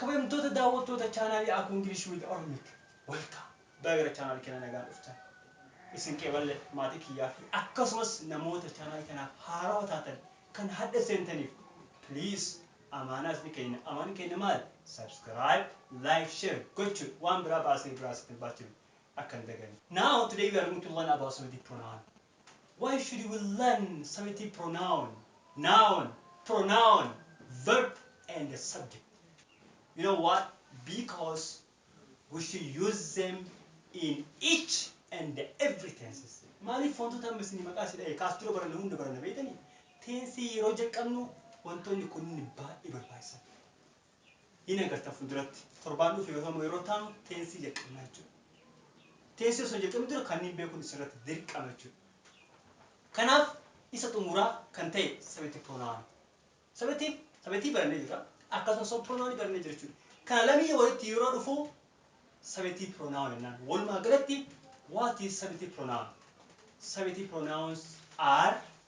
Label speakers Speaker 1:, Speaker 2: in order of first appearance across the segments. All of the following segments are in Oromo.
Speaker 1: Kabajamtoota daawwattoota chaanaalii Aku English with Oromik Welcome! Baga gara chaanaalii keenyaa nagaan dhuftan. Isin qeeballe maatii kiyyaa fi akkasumas namoota chaanaalii kanaaf haarawa taatan kan hadha seentaniif please amaanaa isni keenna. Amaanni keenna maal? Subscribe, like, share gochuudha. Waan biraa baasnee biraa isin hin baachifnu. Akka hin daganne. Now today we are going to learn about Saudi pronoun. Why should we learn subjective pronoun, noun, pronoun, verb and subject? You know what? Because we should use them in each and every tenses. Maaliif wantoota amma isin maqaa si dha'e kaas dura baranne hunda baranne beektanii? Teensii yeroo jalqabnu wantoonni kunniin baay'ee barbaachisan. hin agartan fuulduratti. Torbaan dhufu yookaan immoo yeroo itti aanu teensii jalqabna jechuudha. Teensii osoo hin jalqabin dura kanniin beekuun isinirratti dirqama jechuudha. Kanaaf isa xumuraa kan ta'e subjective pronoun. Subjective, subjective barannee jirra. Akkasumas immoo pronoun barannee jirra jechuudha. Kana lameen walitti yeroo dhufu subjective pronoun jennaan. Walumaa galatti what is subjective pronoun? Subjective pronouns are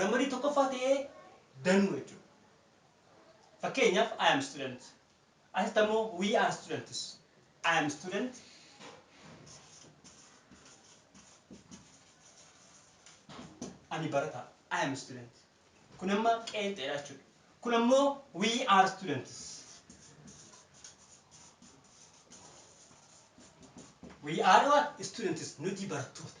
Speaker 1: Ramadii tokkoffaa ta'ee danuu jechuudha. Fakkeenyaaf I am student. Asitti ammoo we are students. I am student. Ani barataa. I am student. Kun amma qeenxeedha jechuudha. Kun ammoo we are students. We are what? Students. Nuti barattoota.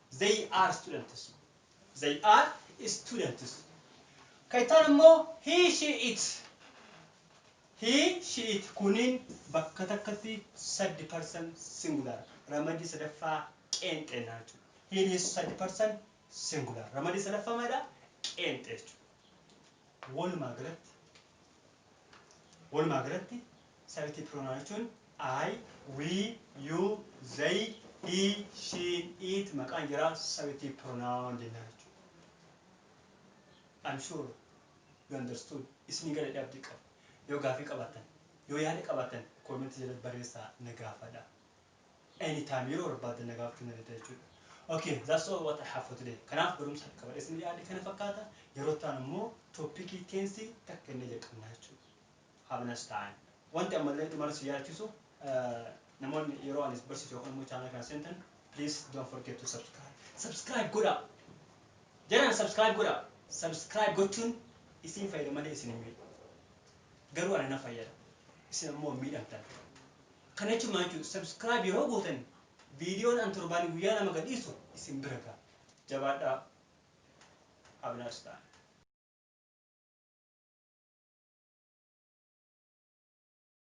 Speaker 1: They are students. They are students. Kan ittaan immoo he, she, it. He, she, it. Kuniin bakka takkatti saddi person singular. Ramadii sadaffaa qeenxeennaa jechuudha. He is saddi person singular. Ramadii sadaffaa maalidha? Qeenxee jechuudha. Walumaa galatti Walumaa galatti Sabitii Piroonaawon jechuun I, we, you, they, he, she, it maqaan jaraa Sabitii Piroonaawon jennaa jechuudha. I'm sure you understood isinii gala jedhee abdii qaba. Yoo gaafii qabaattan, yoo yaada qabaattan comment jalatti barreessaa na gaafadha. any time yeroo barbaaddan na gaafachuu dandeettan jechuudha. Okay, that's all what I have for today. Kanaaf barumsa harka qabadhee isin dhiyaadhe kana fakkaata. Yeroo itti aanu immoo tooppikii teensii takka inni jalqabna jechuudha. Have a nice time. Wanti ammallee dhumarra si yaadachiisu namoonni yeroo ani barsiisu yookaan immoo chaanala kana seentan please don't forget to subscribe. Subscribe godhaa! Jaraan subscribe godhaa! Subscribe gochuun isin fayyada malee isin hin miidhu. Garuu ana na fayyada. Isin ammoo miidhamtan. Kana jechuun maal jechuudha? Subscribe yeroo gootan viidiyoon an torbaanii guyyaa lama gad dhiisu isin bira ga'a. Jabaadhaa! Abner Star.